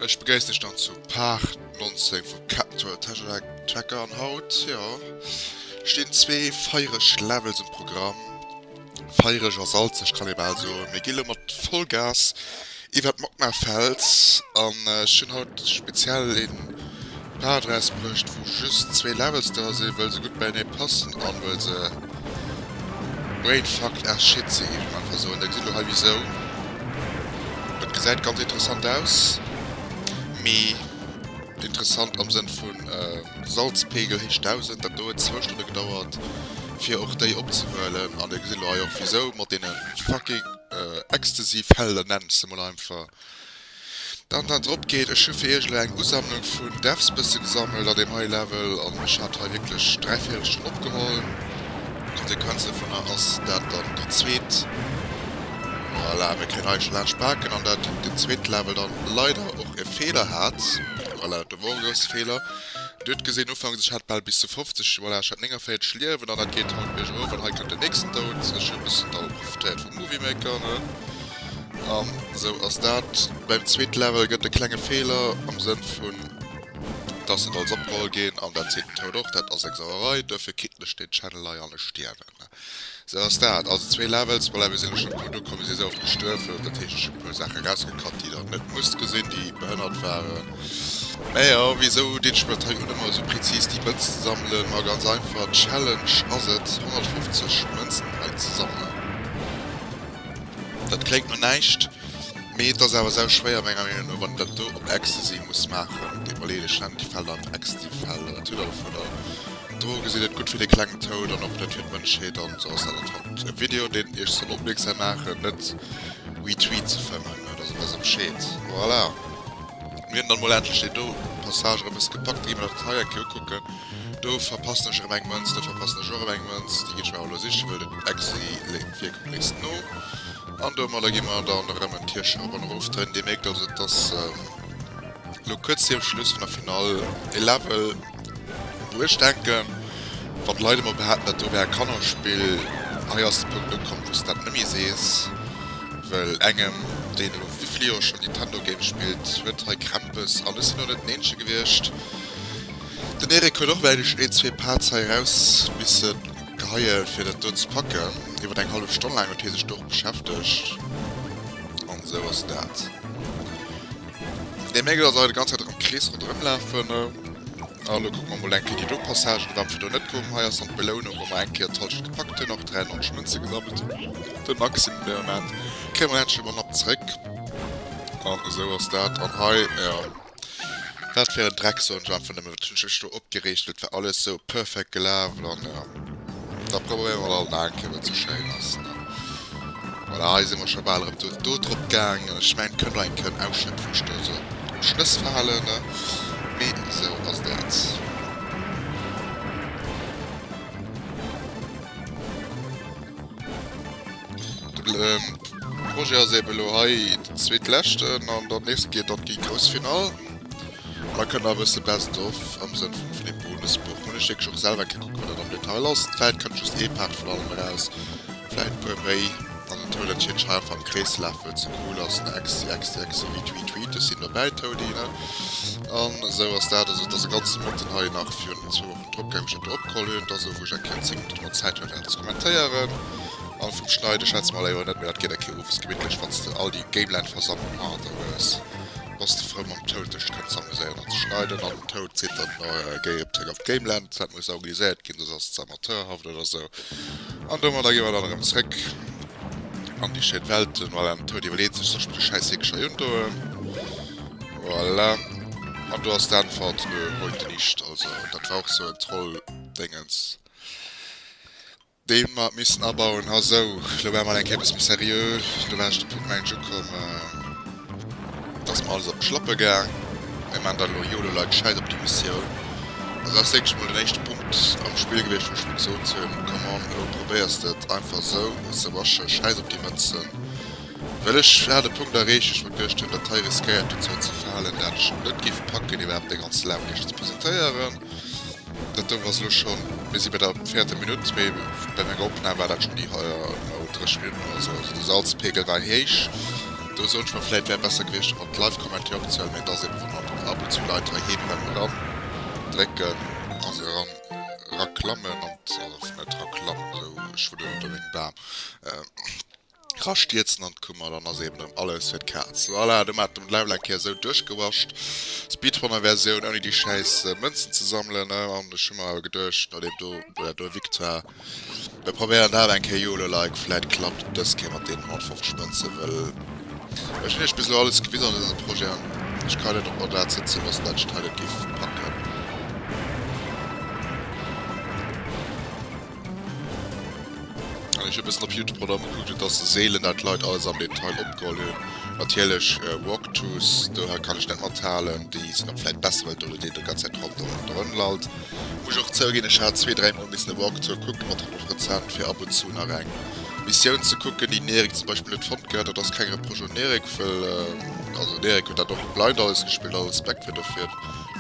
Ech begréissen iech dann zu Part 19 vu Capture Tesseract Tracker an haut, jo, stinn zwee feiereg Levels um Programm. Feiereg a salzeg kann ee bal soen. Mir gi lo mat Vollgas Iwwert d'Magma Fels an ech hunn haut speziell een Part rausbruecht wou just zwee Levels dra sinn wëll se gutt beienee passen an wëll se Brainfucked as shit sinn géif ech einfach soen. Der gesitt elo hei wisou. Dat gesäit ganz interessant aus, mee interessant am Sënn vun Salzpegel héich 1000. Dat do huet zwou Stonne gedauert fir och déi opzehuelen an der gesitt elo hei och wisou mat deene fucking. Exzessiv Helder nennen se mol einfach. Dann dann drop geet. Ech hu fir iech elo eng Usammlung vun Devs bësse gesammelt a deem hei Level an ech hat hei wierklech dräi Véirelstonn opgeholl. Konsequenz dovunner ass dat dann déi zweet. Voilà, mir kënnen hei scho laanscht paken an dat den zweete Level dann leider och e Feeler hat. Voilà, dat do wor e grousse Feeler. Dir hutt gesinn ufanks ech hat bal bis zu 50, voilà, ech hat 49 Liewen an dat geet haut biergof an hei kënnt den nächsten Doud. Ech hu e bëssen Daul. D'Fräiheet vum Movie Maker, ne? An esou ass dat. Beim zweete Level gëtt e klenge Feeler am Sënn vun, dass et als opgeholl ginn an dat seet den Toad och. Dat ass eng Sauerei. Duerfir kritt lech den Channel leier lech stierwen, ne? Esou ass dat. Also zwee Levels, voilà, mir sinn elo schonn e puer duerkomm. Mir si esou oft gestuerwen, dat heescht, ech hunn e puer Saache rausgekatt, déi Der net musst gesinn, déi behënnert waren. Mäja wisou deen ech mir dat hei un emmer esou präzis déi Mënz ze sammelen? Ma ganz einfach, d'Challenge ass et 150 Mënzen hei ze sammelen. Dat kléngt no näischt, mee et ass awer sau schwéier menger Meenung no wann een dat do op Ecstasy muss maachen. Et iwwerleet ech dann déi Fäll an Ecsty Fäll oder Tüdder dovun. Droge sinn net gutt fir de klengen Toad an och net fir d'Mënschheet. An esou ass dat et haut e Video deen iech soll opmierksam maachen net We Tweet ze fëmmen, dat ass e bësse bescheed. Voilà. Mir hunn dann mol endlech deen do Passage erëm es gepackt. Da gi mer nach den hei eng Kéier ukucken. Do verpassen ech erëm eng Mënz, do verpassen ech och erëm eng Mënz. Déi ginn ech mer awer elo sichen, well den Exi léit wierklech nees no. An domadder gi mer dann erëm en Tierchen op an erof dréinen. Dir mierkt also, et ass elo kuerz virum Schluss vun der Finall. E Level. Wou ech denken, wann d'Leit emol behaapten, dat do wär e Kannerspill, hei ass de Punkt ukomm, wou s de dat net méi sees, well engem, deen elo wéi vill Joer schonn Nintendo-Games spillt, huet hei Krämpes. An ech sinn och net den Eenzege gewiescht, den Eric huet och, mäin ech, een, zwee Parts hei eraus misse geheie fir dat do ze packen, iwwer eng hallef Stonn laang huet hie sech do och beschäftegt. An esou ass dat. Dee Mégel ass awer déi ganz Zäit am Krees ronderëm lafen. A lo kucke mer mol eng Kéier déi do Passagen, wat fir do net koom. Hei ass dann d'Belounung, wou mer eng Kéier d'Halschent gepackt hunn, och 93 Mënze gesammelt hunn. De Maximum dee Moment kréie mer näischt, ech ëmmer Napp zeréck. An esou ass dat. An hei, jo, wat fir en Dreck, soen ech einfach nëmmen. Wat hunn ech mech do opgereegt, et war alles esou perfekt gelaf. An jo. Da probéiere mer alt nach eng Kéier, wat esou schéin ass. Voilà, hei si mer scho bal erëm do drop gaang. An ech mengen, et kënnt och eng Kéier en Ausschnëtt vum Sturz oder vum Schlëss verhalen. Mee esou ass dat. De Projet ass eeben elo hei den zweetleschten an dann nees geet et an déi grouss Finall. Hei kënnt nach e bësse Best of am Sënn vum Philippe Brunes Buch. Hunn ech wierklech och selwer kee kucke wat dat am Detail ass. Vläit kënnt just ee Part vun allem eraus, vläit e puer méi. An den Tour der Tierkei einfach am Krees ze lafen, wat ze cool ass, ne? Exi-exi-exi-wit-wit-wit, ech sinn dobäi, Toady, ne? An esou ass dat. Also et ass e ganze Mëtten hei nach virun zwou Wochen drop gaangen, wou ech dat do opgeholl hunn. Et ass esou, wou ech eng Kéier 10 Minutten domat Zäit hat, dat ze kommentéieren. An vum Schneiden schwätze mer leider och net, mä dat geet eng Kéier owes gemittlech, wann s de all déi Gameland-Versammlung hannert der hues. Bass de frou mam Toad sech kënnen z'amuséieren an ze schneiden an den Toad seet dann, géi op zréck op d'Gameland, dat muss augiliséiert ginn, soss ass et ze amateurhaft oder sou an domadder gi mer dann erëm zréck an déi schéin Welt. Voilà, den Toad iwwerleet sech, Soll ech mer dee schäiss Heekeschei undoen? Voilà, an do ass d'Äntwert, Nö, heute nicht. Also dat war och sou en Trolldéngens. déi mer missen abauen ha. Sou, elo ware mer alt eng Kéier e bësse méi seriö, do war ech de Punkt, mengen ech, ukomm. Dass mer alles op d'Schlappe gaang, mir maachen dat elo, Yolo Leit, schäiss op déi Missioun. An dat ass wierklech emol den éischte Punkt am Spill gewiescht, wou ech mir gesot hunn, come on, elo probéiers de et einfach esou ze rushen, schäiss op déi Mënzen. Well ech hat e Punkt erreecht, wou ech mir geduecht hunn, dat hei riskéiert dozou ze verhalen, dat ech et net géif packen, iwwerhaapt déi ganz Launierg ze presentéieren. Dat doe ass elo schonn, mir si bei der véierte Minutt, mee bei menger Opnam war dat schonn déi 30 Minutten oder sou. Also de Salzpeegel war héich. Do soen ech mer, vläit wär besser gewiescht fir mer d'Live-Commentaire opzehuelen, mee et ass eebe wou mer ab und zu Leit heiheem beim eran drécken, also eran eraklammen an, also net eraklammen, esou schwuddelen elo meng Bam. Ra stierzen an d'Kummer, dann ass eben erëm alles fir d'Kaz. Voilà, domat hunn mer d'Level eng Kéier esou duerchgewascht. Speedrunner Versioun, ouni déi schäiss Mënzen ze sammelen. An ech hu mer awer geduecht, nodeem do dat do erwickt war, mir probéieren dat eng Kéier. Yololike, vläit klappt et dës Kéier mat deenen 150 Mënzen, well ech hunn iech bis elo alles gewisen an dësem Projet an ech kann net op mer dat sëtzen loossen, dat ech d'Hei net géif packen. Ech hun e bessen op Youtube rondrem gekuckt et ass seelen dat Leit alles am Detail opgeholl hun. Natierlech Walkthroughs do kann ech net mathalen, déi sin och vläit besser well do deen déi ganz Zäit rondrem drëm lallt. Muss ech och zouginn ech hat zwee, dräi mol missen e Walkthrough kucken mat Hëllef rezent fir ab und zu nach eng Missioun ze kucken déi den Eric zum Beispill net fonnt gehat. Dat ass keng Reproche un den Eric well also den Eric huet dat och blind alles gespillt, all Respekt fir dofir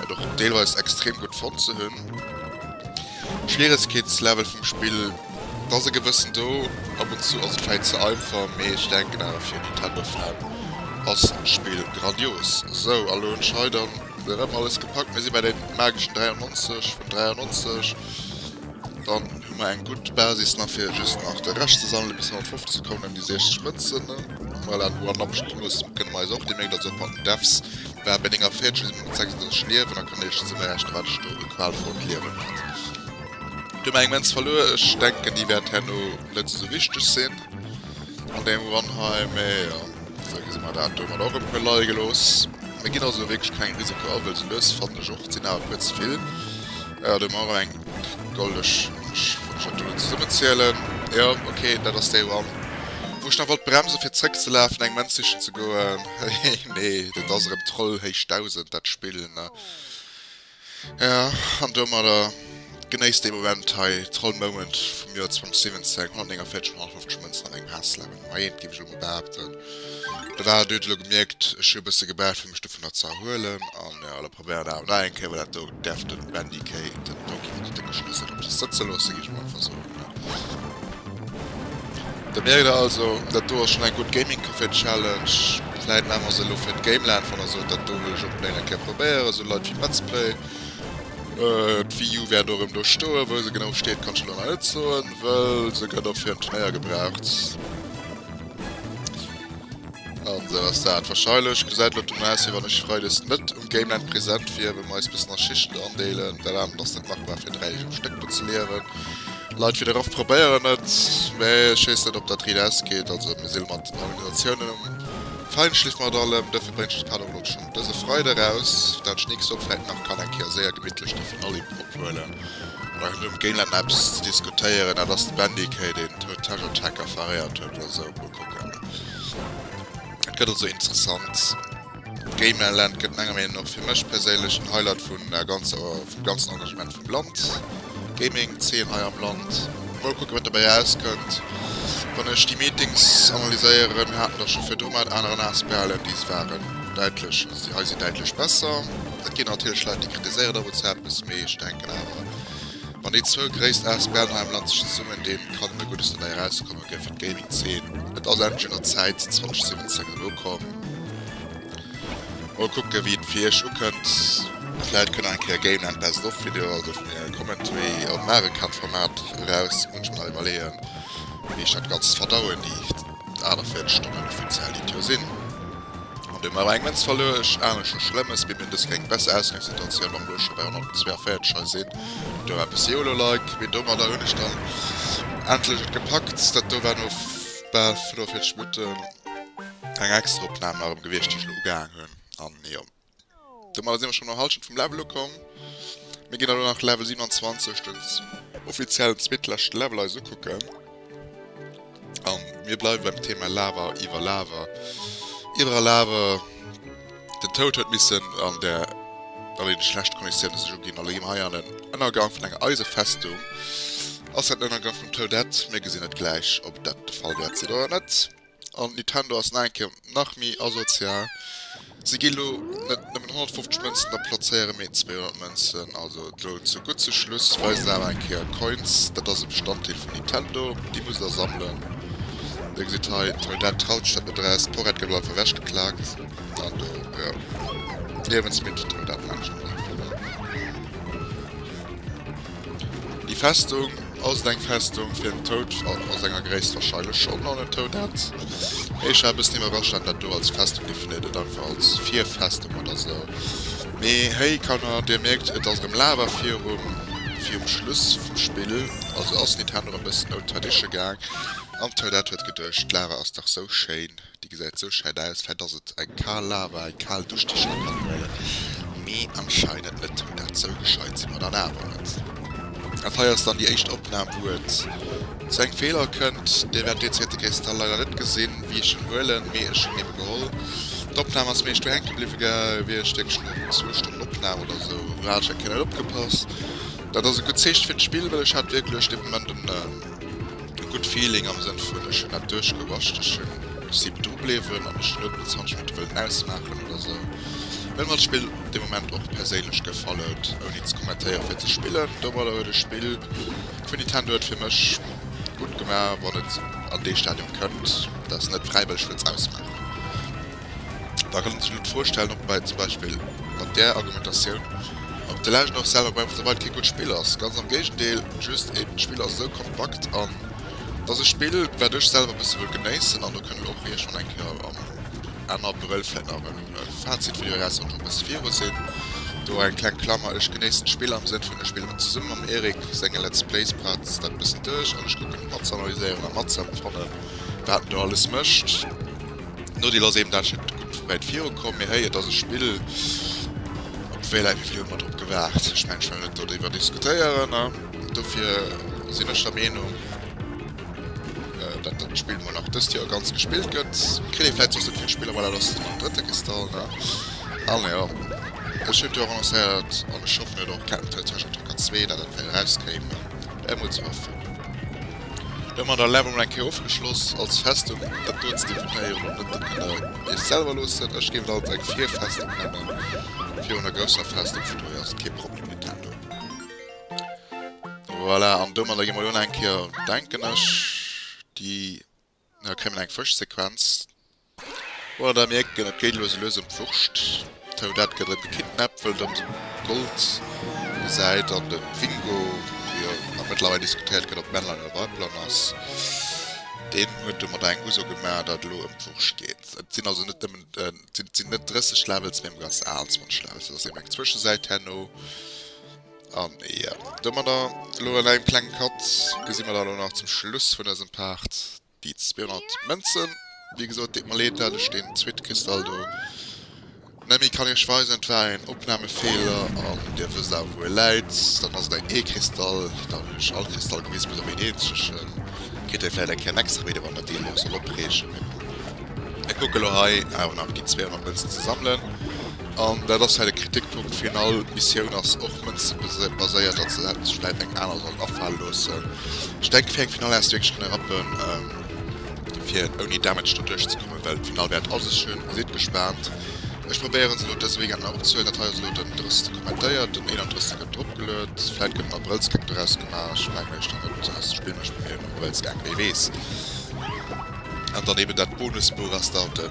dat och deelweis extrem gutt fonnt ze hunn. Schwieregkeetslevel vum Spill, et ass e gewëssen do, ab und zu ass et vläit ze einfach, mee ech denken awer fir e Nintendo Fan ass d'Spill grandios. Sou, a lo hunn ech hei dann erëm alles gepackt, mir si bei deem mageschen 93 vun 93, dann hu mer eng gutt Basis nach fir just nach de Rescht ze sammelen bis 150 ze kommen, déi 60 Mënzen, voilà, no anappeschem Plus kënne mer eis och déi 9 da zou packen, Devs. War bei denger Fäertchen mat 36 Liewen a kann Iech ze berichten, wat ech do e qualvollt Liewen hat. Huet mer eng Menz verluer. Ech denken, déi wäert herno net esou wichteg sinn an dengem Run hei. Mee jo, esou gi si mer dat domat och e puer leie gelooss. Mir ginn also wierklech kengem Risiko a, wëll se lues fannen ech och, sinn awer e puer ze vill. Jo, do hu mer erëm eng goldeg. Ech wollt mech natierlech zesummenzielen. Jo, okay, dat ass dee Run, wou ech nach wollt bremsen, fir zeréckzelafen, eng Menz sichen ze goen. Hehe nee dat ass erem Troll héich 1000 dat Spill ne jo an domadder genéisst dee Moment hei Troll Moment vum Joer 2017 149 vun 150 Mënzen an engem Hässlewen Majeet géif ech elo mol behaapten. Da war et huet elo gemierkt ech hu e bësse gebraucht fir mech dovunner ze erhuelen an jo elo. Probéieren nach emol eng Kéier, well dat do däerft den Bendy Kay, den Doki vun de Décke Schlëssel op sech sëtze loossen, ginn ech mol einfach soen, ne? Da mierkt der also, dat do ass schonn eng gutt Gaming Café Challenge. Vläit maache mer se elo fir d'Gameland, wann der sot, dat do wëll ech onbléint eng Kéier probéieren, sou Leit wéi Metzplay. D'Wii U wäert och erëm do stoen, wou se genau steet, kann ech elo nach net soen, well se gëtt och fir en Turnéier gebraucht. An esou ass dat. Wahrscheinlech gesäit et elo dono aus wéi wann ech Freides net um Gameland present wier, well mir eis bëssen a Schichten andeelen. Dat anert ass net machbar fir 3 Deeg um Stéck do ze liewen. Leit wéi de Raph probéieren et, mee ech weess net op dat riit ausgeet. Also mir si lo mat den Organisatiounen um Feinschliff mat allem. Dofir bréngt ech de Paddock elo schonn dëse Freide raus, dat ech nächst Woch vläit nach kann eng Kéier séier gemittlech déi Finallim ophuelen. Bei hinnen um Gameland eppes ze diskutéieren, dat ass de Bandy Kay deen d'Hood Tâche Attack affaréiert huet oder esou. Okay. Et gëtt also interessant. Gamer Land gëtt menger Meenung nach fir mech perséinlech den Highlight vun der ganzer, vum ganzen Engagement vum Land. Gaming 10 hei am Land. Mol kucke wat dobäi rauskënnt. Wann ech déi Meetings analyséieren, haten der scho virdru mat aneren Asbln, déi waren däitlech, also déi hei sinn däitlech besser. Et ginn natierlech Leit, déi kritiséieren der WhatsApp e bësse méi. Ech denken awer, wann déi zwou gréisst Asbln hei am Land sech zesummen dinn, kann nëmme Guddes dobäi erauskommen. Danke fir d'Gaming Zeen. Et ass endlech un der Zäit 2017 an ukomm. Mol kucke wéi et fir iech ukënnt. Vläit kënnt nach eng Kéier Gameland Best of Video, also vun mir e Commentary am Mario Kart Format eraus. Muss ech mer nach iwwerleeën wéi ech dat ganzt verdauen, déi 48 Stonnen offiziell déi et jo sinn. An deem awer eng Mënz verluer ech. Anescht scho schlëmm, es geet mir dës Kéng besser Ausgangssituatioun, wann elo scho bei 142 hei sinn. Hutt do eppes Yolo like, mee domadder hunn ech dann endlech et gepackt. Dat do war no bal 45 Minutten eng extra Opnam nach erëm gewiescht, déi ech elo ugehaang hunn. An jo, Domadder si mer schonn an der Hallschent vum Level ukomm. Mir ginn elo nach Level 27, den offiziellen zweetleschte Level, eis ukucken. A mir bleiwe beim Thema Lava, iwwer Lava, iwwer a Lava. Den Toad huet missen an der an deene schlechte Konditioune sech uginn a lo gi mer hei an den Ënnergang vun enger Eisefestung. Ass dat den Ënnergang vum Toadette? Mir gesinn et gläich, ob dat de Fall wäert sinn oder net. an Nintendo ass no enkem nach mi asozial, se gi lo net nëmmen 150 Mënzen a plazéieren méi 200 Mënzen, also lo zu gutt zu Schluss weisen se awer eng Kéier Coins, dat ass e Bestanddeel vun Nintendo, déi musst der sammelen, dir gesitt hei Trinidad traut sech dat net eraus, d'Porrett gëtt lo einfach ewech geklaakt an do jo d'Liewensmittel Trinidad mengen ech net einfach. Déi Festung, ass et eng Festung fir en Toad? A senger Gréisst wahrscheinlech schonn, an en Toad hätt éischer e bëssen iwwerrascht, datt dat do als Festung definéiert gëtt, einfach als Virfestung oder esou. Mee héi, Kanner, dir mierkt, et ass erëm Lava virum, virum Schluss vum Spill, also ass Nintendo erëm e bëssen old tradition gaang, an d'Toadette huet geduecht, d'Lava ass dach esou schéin. Déi gesäit sou scheit aus vläit ass et eng kaal Lava, eng kaal Dusch déi scho kann huelen, mee anscheinend net, mee dat sou gescheit si mer dann awer net. Dat hei ass dann déi éischt Opnahm wou et zu engem Feeler kënnt, dir wäert deen zweete Kristall leider net gesinn wéi ech en huelen, mee ech hunn en geholl. D'Opnahm ass méi ech do hänke bliwwe wier, ech denke schon no zwou Stonnen Opnahm oder sou hat ech eng Kéier net opgepasst, dat ass e gutt Zeecht fir d'Spill well ech hat wierklech dee Moment en. E gudd Feeling am Sënn vun ech hunn dat duerchgewacht, ech hunn si dru bléiwen an ech net mat Zandschminke wëllen ausmaachen oder sou. Well mer d'Spill op de Moment och perséinlech gefallt, ouni ze kommentéieren fir ze spillen. Domadder huet e Spill vun Nintendo et fir mech gutt gemaach wann et an dee Stadium kënnt, dat ech net fräiwëlleg wëlls ausmaachen. Da kann een sech elo d'Fro stellen, ob bei zum Beispill mat där Argumentatioun, ob de Legend och selwer Breath of the Wild kee gutt Spill ass. Ganz am Géigendeel, just eeben d'Spill ass esou kompakt an et ass e Spill, wat ech selwer bësse wëll genéissen an do kënne mir och iech schonn eng Kéier am Enn Abrëll vläicht nach en Fazit-Video eraushuelen, schonn e bësse viru sinn. Do eng kleng Klammer, Ech genéissen d'Spill am Sënn vun, ech spillen et zesumme mam Eric, senge Let's Plays braucht dat e bëssen duerch an ech kucken et matzanalyséieren a matzëempfannen, wat en do alles mécht. Nodeel ass eben, dat ass jo net gutt wéit virukomm. Mee héi, et ass e Spill, obwuel ech, wéi vill hu mer drop gewaart? Ech mengen, ech well net doriwwer diskutéieren. Dofir sinn ech der Meenung, datt dat Spill mol nach dëst Joer ganz gespillt gëtt. Kritt ee vläicht soss net vill Spiller, voilà, dass et mat dem drëtte Kristall, ne? An jo, ech hunn jo och annoncéiert, an ech hoffen, et huet och Captain Toad Treasure Tracker 2, datt dat well erauskéim. Ech muss ze hoffen. Domat ass Level mol eng Kéier ofgeschloss. Als Festung dat do ze definéieren, dat kënnt der iech selwer loossen. Ech géif et als eng Virfestung nennen. Virun der grousser Festung, vun dohier ass et kee Problem, Nintendo. Voilà, an domadder gi mol un eng Kéier, denken ech, déi. Hei kréie mer eng Fëschsequenz. Oder der mierken, et geet lues a lues ëm d'Wurscht. D'Toadette gëtt erëm gekidnappt, wëll et erëm säi Gold gesäit. An de Wingo, wou jo nach mëttlerweil diskutéiert gëtt, ob Männlein oder Weiblern ass, deen huet domadder eng Uso gemaach, datt et elo ëm d'Wurscht geet. Et sinn also net nëmmen, et sinn net 30 Levels, mee emol ganz al 20 Levels. Dat ass eben eng Zwëschesäit herno. An jo, domadder, elo an engem klengen Cut, gesi mer dann elo nach zum Schluss vun dësem Part déi 200 Mënzen. Wéi gesot, deet mer leed, dat ech deen Zwit-Kristall do net méi kann iech weisen. Et war een Opnamefeeler an dir wësst awer, wou e läit. Dann ass et eng E-Kristall. Da hunn ech all Kristall gewisen, bis op een eenzegen. Kritt ee vläicht eng Kéier en extra Video, wann dat een iech soll opreegen. Mee mir kucke elo hei awer nach déi 200 Mënzen ze sammelen. An dat ass hei de Kritikpunkt fir een all, d'Missioun ass och mënzebaséiert, datt se hätte sech vläit eng aner sollen afale loossen. Ech denke fir eng Finall häss du wierklech kënne rappen fir ouni Damage do duerch ze kommen, well d'Finall wär et a sech schön. Sidd gespaant, ech probéieren se elo dëse Weekend nach opzehuelen. Dat hei ass elo den 30 kommentéiert, den 31 gëtt drop geluet, vläit gëtt en Abrëllsgag doraus gemaach, ech mengen mech nach net aus, spillen mech bei mir en Abrëllsgag, wee weess. An dann eben dat Bonusbuch ass dann den.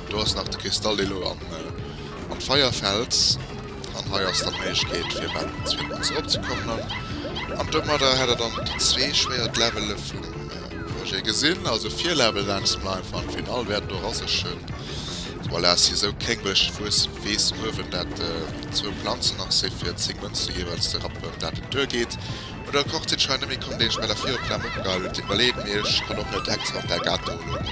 Do ass nach de Kristall dee lo an an d'Feier fällt. An hei ass dann Méiglechkeet fir eppes fir eppes eropzekommelen. An domadder hätt der dann déi zwee schwéiert Levele vum Projet gesinn. Also vier Level laanscht mer einfach an Final wäert do rassechen. Voilà ass hie sou krénglech wues weess uewen dat zwou Planzen nach si fir 10 Mënze jeeweils ze rappen dat et duer geet. Oder kocht se d'Schwein nëmme komm, deen ech mer da virop d'Lamm opgehall hun? Tit Merleet, Mee ech han och net extra op däi Gato elo emol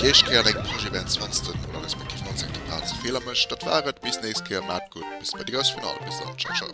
déi éischt Kéier an engem Projet wärend 20 Mol alles mat Kiff 19 Kippaarts a Feeler mécht. Dat war et, bis nächst Kéier, maat gutt, bis bei déi grouss Finall, bis dann, ciao ciao.